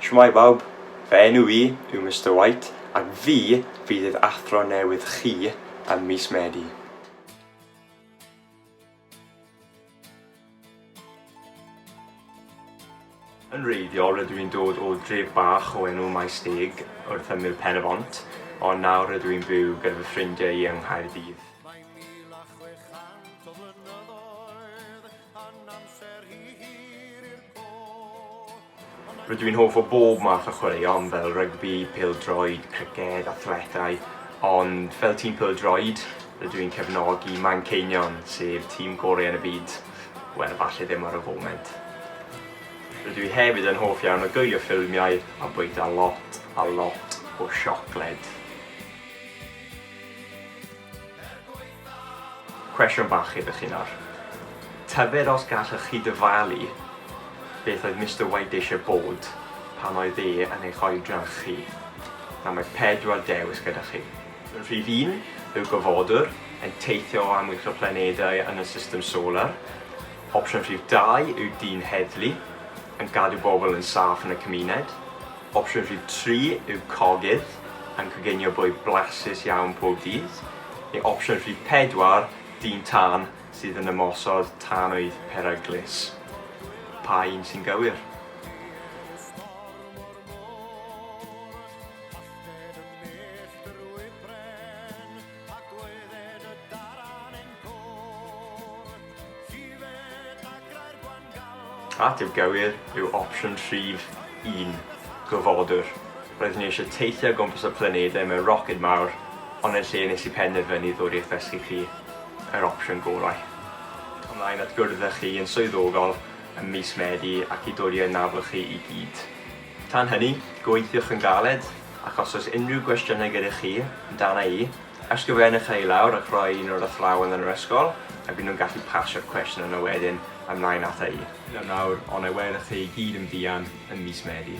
Shwmae bawb, fy enw i yw Mister White ac fi fydd eich athro newydd chi ym mis Medi. Yn wreiddiol rydw i'n dod o dref bach o enw Maesteg wrth ymyl Pen-y-bont ond nawr rydw i'n byw gyda fy ffrindiau i yng Nghaerdydd. Yn amser hi hir i'r Rydw i'n hoff o bob math o chwaraeon fel rygbi, pêl-droed, criced, athletau, ond fel tîm pêl-droed, rydw i'n cefnogi Manceinion, sef tîm gorau yn y byd. Wel, falle ddim ar y foment. Rydw i hefyd yn hoff iawn o gwylio ffilmiau a bwyta lot a lot o siocled. Cwestiwn bach i chi nawr. Tybed os gallwch chi dyfalu beth oedd Mister White eisiau bod pan oedd e yn eich oedran chi? Nawr mae pedwar dewis gyda chi. Rhif un yw gofodwr yn teithio o amgylch y planedau yn y system solar. Opsiwn rhif dau yw dyn heddlu yn cadw bobl yn saff yn y cymuned. Opsiwn rhif tri yw cogydd, yn coginio bwyd blasus iawn pob dydd, neu opsiwn rhif pedwar, dyn tân sydd yn ymosod tanwydd peryglus. Pa un sy'n gywir? At yw gywir yw opsiwn rhif un, gofodwr. Roeddwn i eisiau teithio o gwmpas y planedau mewn roced mawr, ond yn lle nes i penderfynu ddod i'ch ddysgu chi yr opsiwn gorau. Ymlaen at gwrdd â chi yn swyddogol ym mis Medi ac i dodi ein nafl chi i gyd. Tan hynny, gweithiwch yn galed, ac os oes unrhyw gwestiynau gyda chi amdana i, ysgrifennwch e i lawr ac rhoi e i un o'r athrawon yn yr ysgol a bydd nhw'n gallu pasio'r cwestiwn yna wedyn ymlaen ata i. Hyd yn awr, ond na welwch chi i gyd yn fuan ym mis Medi.